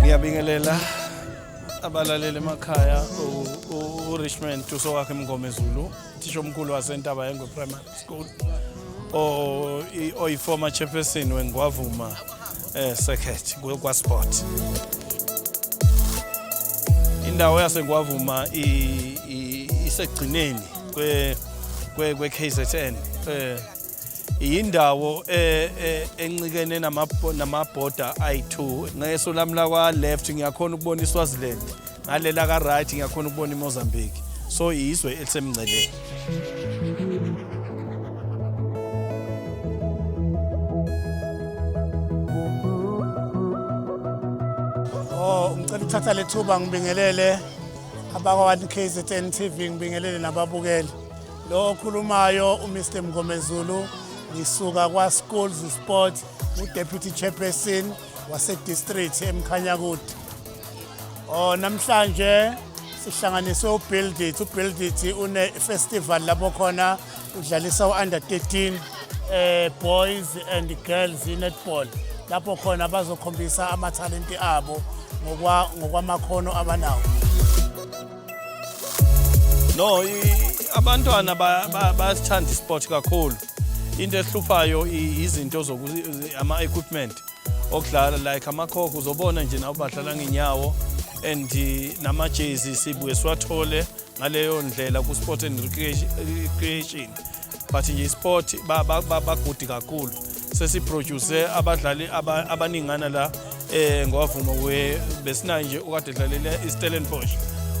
ngiyabingelela abalaleli emakhaya u-richmond uso wakhe mngomezulu uthisha omkhulu wasentaba yengwe primary school oyi-former chairperson wengwavuma um eh, circuit kwasport indawo yasengwavuma isekugcineni kwe-kzn um eh, yindawo eh, eh, encikene namabhoda ayi-two ngeso lami lakwa-left ngiyakhona ukubona iswaziland ngalela ka-right ngiyakhona ukubona imozambique so yizwe elisemngceleni oh, ngicela ukuthatha lethuba ngibingelele abakwa-one kzn tv ngibingelele nababukeli Lo okhulumayo uMr Mngomezulu ngisuka kwaSchools Sport uDeputy Chairperson waseDistrict eMkhanyakude. Oh namhlanje sihlanganiswe uBuild It, uBuild It une festival lapho khona udlalisa uUnder 13 eh boys and girls netball lapho khona bazokhombisa amathalenti abo ngokwa ngokwamakhono abanawo. No, abantwana bayasithanda isport kakhulu. Into ehluphayo izinto zoku ama equipment okudlala like amakhokho uzobona nje nawo badlala ngenyawo and eh, namajezi sibuye siwathole ngaleyo ndlela ku-sport and recreation but nje isport bagudi kakhulu sesiproduce abadlali abaningana la eh ngwavuma we besinayo nje ukade dlalela iStellenbosch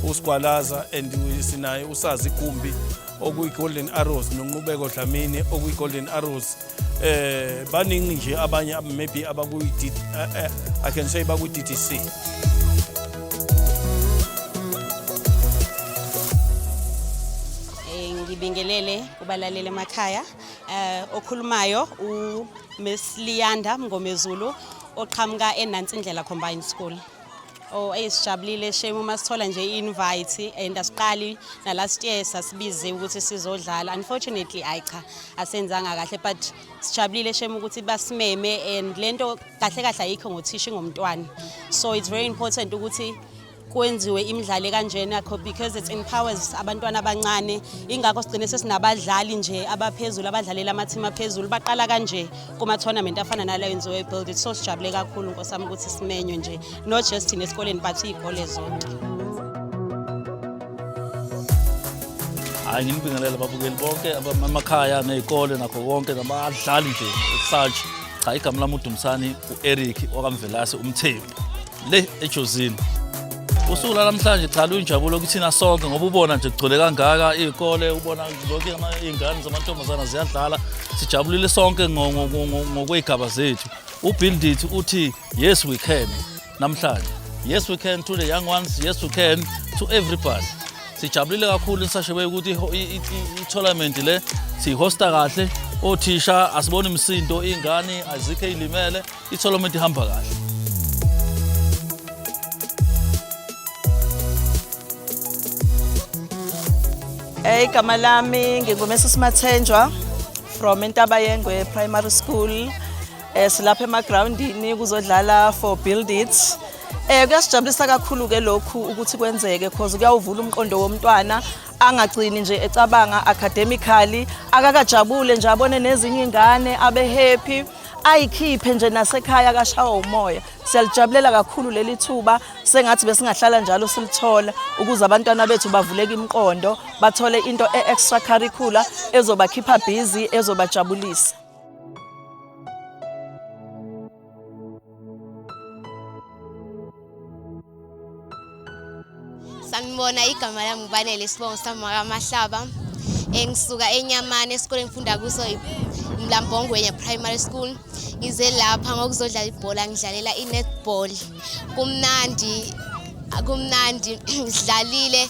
uSigwalaza and sinaye usazi Gumbi okuyi Golden Arrows nonqubeko Dlamini okuyi Golden Arrows eh baningi nje abanye maybe abakuyi eh, eh, I can say bakuyi DTC ngibingelele kubalaleli emakhaya eh okhulumayo u Miss Liyanda Mngomezulu oqhamuka eNansi Indlela Combined School Oh, eyi sijabulile shame uma sithola nje i-invite and asiqali nalast year sasibize ukuthi sizodlala unfortunately ayi cha asenzanga kahle but sijabulile shame ukuthi basimeme and le nto kahle kahle ayikho ngothisha ingomntwana so it's very important ukuthi kwenziwe imidlalo kanjena because it empowers abantwana abancane ingakho sigcine sesinabadlali nje abaphezulu abadlalela amathimu aphezulu baqala kanje kuma-tournament afana nalo yenziwe ebuildit so sijabule kakhulu nkosi yami ukuthi simenywe nje not just thina esikoleni but iy'kole zonke hayi ngimbingelela ababukeli bonke amakhaya ney'kole nakho konke nabadlali nje such cha igama lami udumisani u-eric wakamvelase umthembu le ejozini usuku lanamhlanje cha luyinjabulo kithina sonke ngoba ubona nje kugcwele kangaka iy'kole ubona zonke iy'ngane zamantombazana ziyadlala sijabulile sonke ngokwey'gaba zethu ubildit uthi yes we can namhlanje yes we can to the young ones yes we can to everybody sijabulile kakhulu nisashebe ukuthi i-tournament le siyihosta kahle othisha asiboni msindo iy'ngane azikho ey'limele itholomenti ihamba kahle Eh igama lami ngingumesa Simathenjwa from Intaba Yengwe Primary School. Eh silapha emagroundini kuzodlala for build it. Eh kuyasijabulisa kakhulu ke lokhu ukuthi kwenzeke because kuyawuvula umqondo womntwana angagcini nje ecabanga academically akakajabule nje abone nezinye ingane abe happy ayikhiphe nje nasekhaya akashawa umoya siyalijabulela kakhulu leli thuba sengathi besingahlala njalo silithola ukuze abantwana bethu bavuleke imiqondo bathole into e-extra curricular ezobakhipha busy ezobajabulisa sanibona igama lami ubanele isibongo sami wakamahlaba engisuka enyamane esikoleni ngifunda kuso mlambongwenya primary school ngize lapha ngokuzodlala ibhola ngidlalela i-netball kumnandi kumnandi sidlalile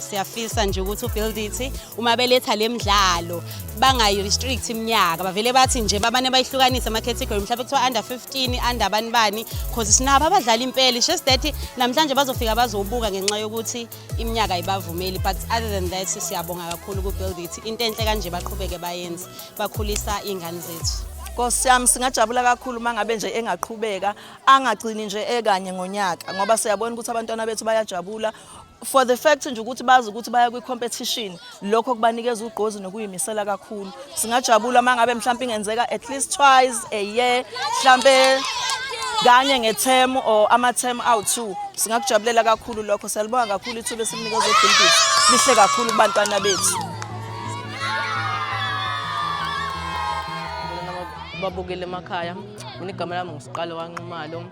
siyafisa nje ukuthi ubuildithi uma beletha le mdlalo bangayi-restrict iminyaka bavele bathi nje babane bayihlukanise ama-category mhlawumbe kuthiwa under 15 under bani bani cause sinabo abadlala impela just that namhlanje bazofika bazobuka ngenxa yokuthi iminyaka ayibavumeli but other than that siyabonga kakhulu kubuildithi into enhle kanje baqhubeke bayenze bakhulisa iy'ngane zethu Nkosi yami singajabula kakhulu mangabe nje engaqhubeka angagcini nje ekanye ngonyaka ngoba siyabona ukuthi abantwana bethu bayajabula for the fact nje ukuthi bazi ukuthi baya kwi-competition lokho kubanikeza ugqozi nokuyimisela kakhulu singajabula uma ngabe mhlawumpe ingenzeka at least twice a year mhlawumpe kanye ngethemu or amathemu awu-two singakujabulela kakhulu lokho siyalibonga kakhulu ithuba esimnikeza ubhilbisi lihle kakhulu kubantwana bethu babukele emakhaya mina igama lami ngusiqalo wanxumalo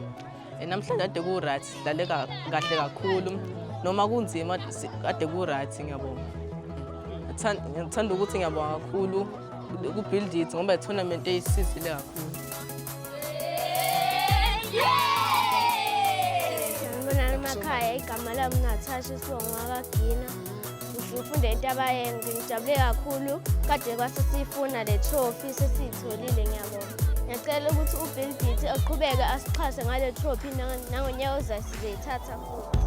Eh, namhlanje ade ku-right sidlale ka- kahle kakhulu noma kunzima si- ade ku-right ngiyabonga Ngithan- ngithanda ukuthi ngiyabonga kakhulu ku-build it ngoba i-tournament eyisizile kakhulu Sanibonani emakhaya, igama lami Natasha Sibongo wakagina. Ngifunde into abayenzi, ngijabule kakhulu. Kade kwase siyifuna le trophy sesiyitholile ngiyabonga. Ngiyacela ukuthi uBill Beatty aqhubeke asixhase ngale trophy nangonyaka ozayo sizoyithatha futhi.